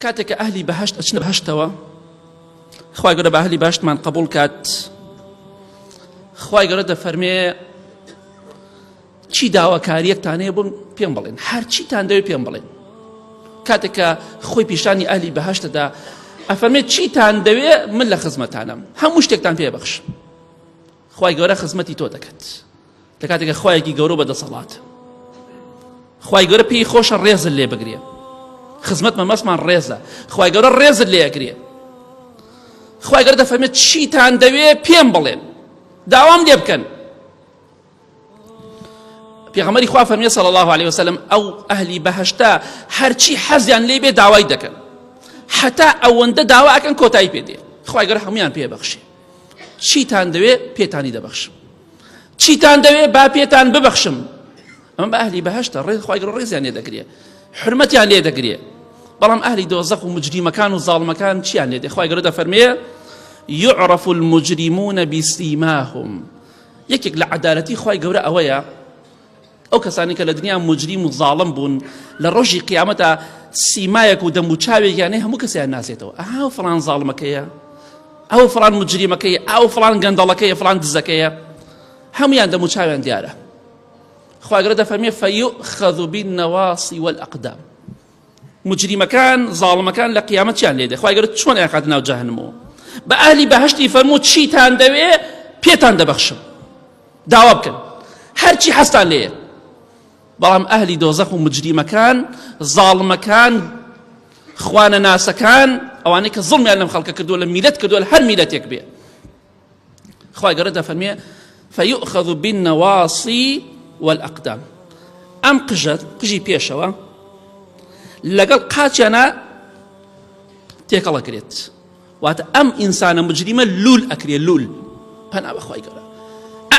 کاتێک کە ئەهلی بەهشت ئەچنە بەهشتەوە خی گەورە بە ئەهلی باشتمان قبول کات خی گەورە دەفەرمێ چی داواکاریەکتانەیە بم پێم بڵێن هەرچیتان دەوێت پێم بڵێن کاتێکە خۆی پیشانی ئەهلی بەهشتەدا ئەفەرمێت چیتان دەوێت من لە خزمەتانم هەموو شتێکتان پێبەخش خوای گەورە خزمەتی تۆ دەکات لە کاتێکە خوایەکی گەورە بە دەسەڵات خوای گەورە پێی خۆشە ڕێزل لێ بگرێ خزمەت مەمەسمان ڕێزە خوای گەورە ڕێزت لێ ئەگرێ خوای گەورە دەفەرمێت چیتان دەوێ پێم بڵێن داوام لێ بکەن پێغەمەری خوا فەرمیە صلی الله عليه وسلم ئەو ئەهلی بەهشتا هەرچی حەزیان لێ بێ داوای دەکەن حتا ئەوەندە داوا ئەکەن کۆتایی پێ دێ خوای گەورە هەمویان پێ بەخشێ چیتان دەوێ پێتانی دەبەخشم چیتان دەوێ با پێتان ببەخشم ئەمە بە ئەهلی بەهشتە ڕێ خخوای گەڕ ڕێزیان لێ دەگرێ حرمەتیان لێ دەگرێ بەڵام ئەهلی دۆزەق و مجریمەکان و زاڵمەکان چیان لێ دەخوای گەرە دەفەرمێ يعرف المجرمون بسيماهم یەکێک لە عدالەتی خی گەورە ئەوەیە ئەو کەسانەی کە لە دنیا موجریم و زاڵم بوون لە ڕۆژی قیامەتا سیمایەک و دەم و چاوێکیانەی هەموو کەسیان ناسێتەوە ئەها فڵان زاڵمەکەیە ئەو فڵان مجریمەکەی ئەو فڵان گەندەڵەکەی فڵان دزەکەیە هەمویان دەم و چاویان دیارە خواگرە دەفەرمێ فەیوخەذ بالنواصی والأقدام مجریمەکان زاڵمەکان لە قیامەت چیان لێ دێ خوای گەورە چۆن ئەیانخاتە ناو جەهەنمەوە بە ئەهلی بەهەشتی فەرموو چیتان دەوێ پێتان دەبەخشم داوا بکەن هەرچی حەستان لێ بەڵام ئەهلی دۆزەخ و مجریمەکان زاڵمەکان خوانە ناسەکان ئەوانەی کە زڵمیان لەم خەڵکە کردووە لە میلەت کردووە هەر میلەتێک بێ خوای گەورە دەفەرمێ فیؤخذ بالنواصی والاقدام ئەم قژە قژی پێشەوە لەگەڵ قاچیانە تێکەڵە کرێت واتە ئەم ئینسانە مجریمە لول ئەکرێ لول پەنا بەخوای گەورە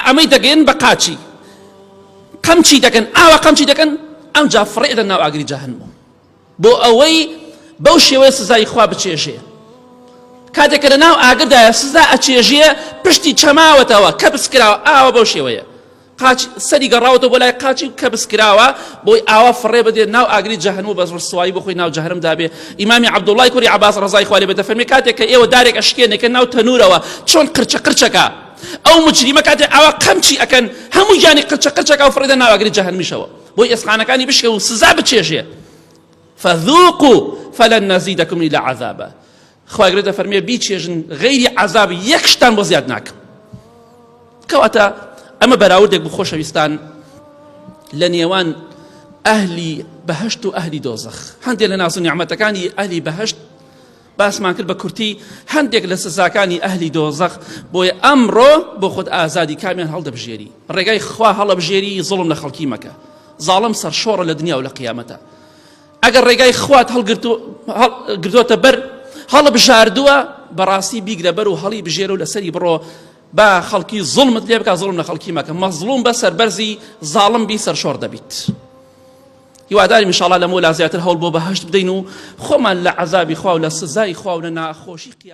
ئەمەی دەگەن بە قاچی قەمچی دەکەن ئاوا قەمچی دەکەن ئەم جا فڕێدە ناو ئاگری جاهنمەوە بۆ ئەوەی بەو شێوەیە سزای خوا بچێژێ کاتێک کە لەناو ئاگردایە سزا ئەچێژێ پشتی چەماوەتەوە کە بسکراوە ئاوە بەو شێوەیە قاچ سەری گەڕاوەتە بۆ لای قاچی کە بسکراوە بۆی ئاوا فڕێ بدێت ناو ئاگری جەهنم و بەس ڕسوایی بخۆی ناو جەهرم دابێ ئیمامی عبدوڵای کوری عباس ڕزای خالی بە دەفەرمی کاتێک کە ئێوە دارێک ئەشکێنێکە ناو تەنورەوە چۆن قرچە قرچەکە ئەو مجریمە کاتێ ئاوا قەمچی ئەکەن هەموو گیانی قرچە قرچەکە و فڕێدە ناو ئاگری جەهنمیشەوە بۆی ئێسقانەکانی بشکێ و سزا بچێژێ فذوقو فلن نزیدکم الا عذابا خوای گەورە دەفەرمێ بیچێژن غەیری عذاب یەک شتان بۆ زیاد ناکەم کەواتە ئەمە بەراوردێک بۆ خۆشەویستان لە نێوان ئەهلی بەهشت و ئەهلی دۆزەخ هەندێک لە ناز و نیعممەتەکانی ئەهلی بەهشت باسمان کرد بە کورتی هەندێک لە سزاکانی ئەهلی دۆزەخ بۆیە ئەمڕۆ بۆ خۆت ئازادی کامیان هەڵدەبژێری ڕێگای خوا هەڵەبژێری زڵم لە خەڵکی مەکە زاڵم سەرشۆڕە لە دنیا و لە قیامەتە ئەگەر ڕێگای خوات هەڵگرتۆتە بەر هەڵە بژاردووە بەڕاستی بیگرە بەر و هەڵی بژێر و لەسەری بڕۆ با خەڵکی زڵمت لێ بکە زڵم لە خەڵکی مەکە مەزڵوم بە سەربەرزی زاڵم بی سەرشۆر دەبیت. هیوادارین انشاءاللە لەمەولا زیاتر هەوڵ بۆ بەهەشت بدەین و خۆمان لە عەزابی خوا و لە سزای خوا و لە ناخۆشی قیامەت